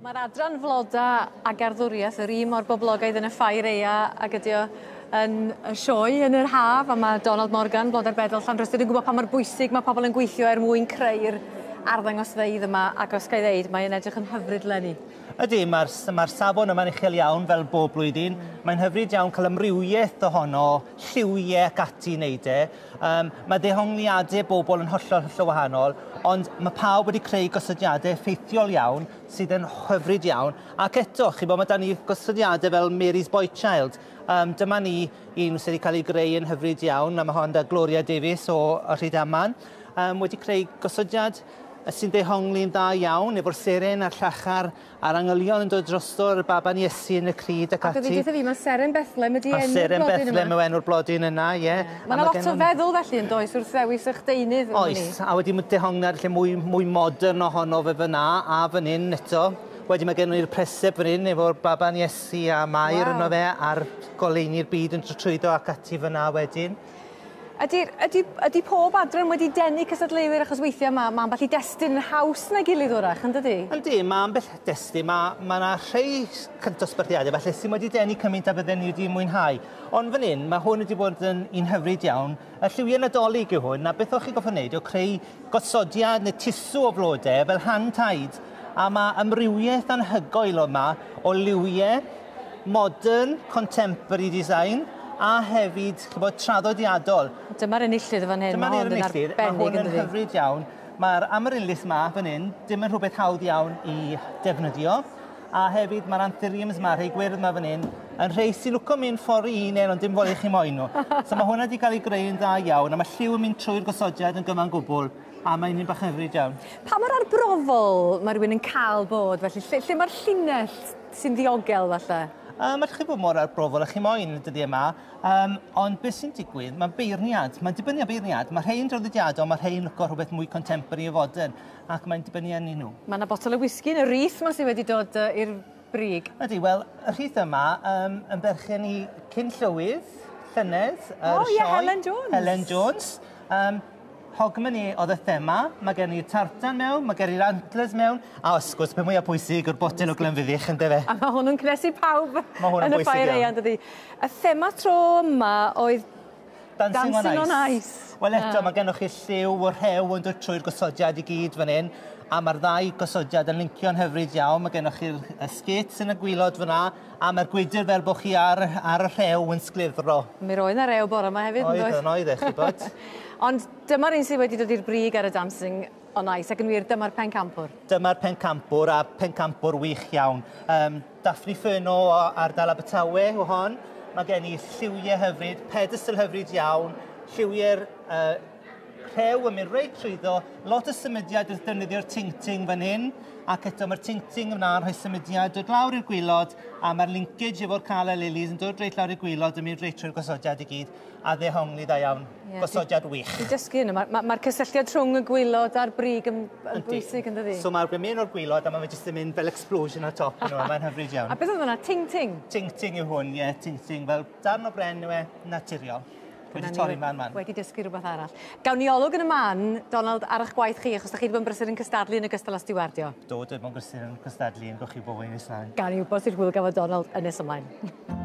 Mae'r adran floda a garddwriaeth yr un mor boblogaidd yn y ffair eia ag ydi o yn y sioe yn yr haf a mae Donald Morgan, Blodau'r Bedol Llanrhystud yn gwybod pa mor bwysig mae pobl yn gweithio er mwyn creu'r arddangosfeydd yma ac os gael ddeud, mae'n edrych yn hyfryd lenni. Ydy, mae'r mae safon yma'n uchel iawn fel bob blwyddyn. Mae'n hyfryd iawn cael amrywiaeth ohono, lliwiau ac ati i wneud e. Um, mae dehongliadau bobl yn hollol hollol wahanol, ond mae pawb wedi creu gosodiadau effeithiol iawn sydd yn hyfryd iawn. Ac eto, chi bod, mae da ni gosodiadau fel Mary's Boy Child. Um, dyma ni un sydd wedi cael ei greu yn hyfryd iawn, mae hon da Gloria Davies o Rhydaman, um, wedi creu gosodiad sy'n dehongli'n dda iawn, efo'r seren a'r llachar A'r angylion yn dod drosto, a'r baban Iesu yn y crud ac ati. Ac o'dd 'di deutha fi ma' Seren Bethlem ydi enw'r blodyn yma. A Seren Bethlem yw enw'r blodyn yna ie. Ma' 'na lot o feddwl felly yndoes wrth ddewis 'ych deunydd am wn i. Oes a wedyn ma' dehongliad lle mwy mwy modern ohono fe fyn 'na a fyn 'yn eto. Wedyn ma' gennon ni'r preseb fyn 'yn efo'r baban Iesu a Mair yno fe a'r goleuni'r byd yn tr- trwyddo ac ati fyn 'na wedyn. Ydy, ydy, ydy pob adran wedi denu cysadleuwyr achos weithiau mae, mae ambell i destun yn haws na gilydd wrach, yn dydy? Ydy, mae ambell destun, mae, mae yna rhai cyntosbarthiadau felly sy'n wedi denu cymaint a fydden ni wedi mwynhau. Ond fan hyn, mae hwn wedi bod yn un hyfryd iawn. Y lliwiau nadolig yw hwn, a beth o'ch chi goffa wneud yw creu gosodiad neu tisw o flodau fel hand-tied a mae amrywiaeth anhygoel yma o liwiau modern, contemporary design, a hefyd, chi'n gwybod, traddodiadol. Dyma'r enillydd yn fan hyn, mae hwn yn arbennig yn dydi? Mae hwn yn hyfryd iawn. Mae'r amaryllis yma fan hyn, dim yn rhywbeth hawdd iawn i defnyddio. A hefyd mae'r anthuriums yma, rhai gwyrdd yma fan hyn, yn rhai sy'n lwco mynd ffordd i un ond dim ffordd i chi moyn nhw. so mae hwnna wedi cael ei greu yn dda iawn, a mae lliw yn mynd trwy'r gosodiad yn gyfan gwbl a mae'n un bach yn hyfryd iawn. Pa mor arbrofol mae rhywun yn cael bod felly? Lle, lle mae'r llinell sy'n ddiogel falle? Um, allwch chi fod mor arbrofol a chi moyn y dyddiau yma, um, ond beth sy'n digwydd, mae beirniad, mae'n dibynnu ar beirniad, mae rhai'n draddodiadol, mae rhai'n lyco rhywbeth mwy contemporary o fodern, ac mae'n dibynnu arni nhw. Mae yna botol o wisgi yn y rhith yma sydd wedi dod uh, i'r brig. Ydy, wel, y rhith yma um, yn berchen i cyn llywydd, llynedd, yr oh, sioe. Helen Jones. Helen Jones. Um, Hogmanay oedd y thema. Mae gen i'r tartan mewn, mae gen i'r antlers mewn, a wrth gwrs, peth mwyaf pwysig yw'r botel o Glenfiddich, yn dyfe? A mae hwnnw'n cynhesu pawb yn y Ffair Eang, dydy. Y thema tro yma oedd Dancing on Ice. Dancing on Ice. Wel eto, mae gennych chi lliw o rhew yn dod trwy'r gosodiad i gyd fan hyn, a mae'r ddau gosodiad yn lincio'n hyfryd iawn. Mae gennych chi'r skates yn y gwylod fan'na, A mae'r gwydr fel bod chi ar, ar y rhew yn sglefro. Mi roedd na rew bore yma hefyd, Oedd, yn oedd e, chi bod. Ond dyma'r un sydd wedi dod i'r brig ar y Dancing on Ice, ac yn wir, dyma'r pencampwr. Dyma'r pencampwr, a pencampwr wych iawn. Um, Daphne Furno o ardal Abertawe o hon. Mae gen i lliwiau hyfryd, pedestal hyfryd iawn, lliwiau'r uh, rhew yn mynd reit trwyddo, lot o symudiad wrth defnyddio'r ting-ting fan hyn, ac eto mae'r ting-ting yna yn rhoi symudiad dod lawr i'r gwylod, a mae'r linkage efo'r Cala Lilies yn dod reit lawr i'r gwylod yn mynd reit trwy'r gosodiad i gyd, a ddehongli dda iawn, yeah, gosodiad wych. Dwi'n dysgu hyn, mae'r ma, ma cysylltiad rhwng y gwylod a'r brig yn, yn bwysig yn dydi? So mae'r gwymyn o'r gwylod a mae'n jyst yn mynd fel explosion ar top yn nhw, mae'n hyfryd iawn. A beth oedd yna, ting-ting? Ting-ting yw hwn, ie, yeah, ting-ting, fel Darn o bren yw e, naturiol. Dwi wedi torri man man. Wedi dysgu rhywbeth arall. Gawn ni olwg yn y man, Donald, ar eich gwaith chi, achos da chi wedi bod yn brysur yn cystadlu yn y gystal â stiwardio. Do, dwi wedi bod yn brysur yn cystadlu yn gwch i bobl yn Israel. Gawn ni wybod sut hwyl gafodd Donald yn nes ymlaen.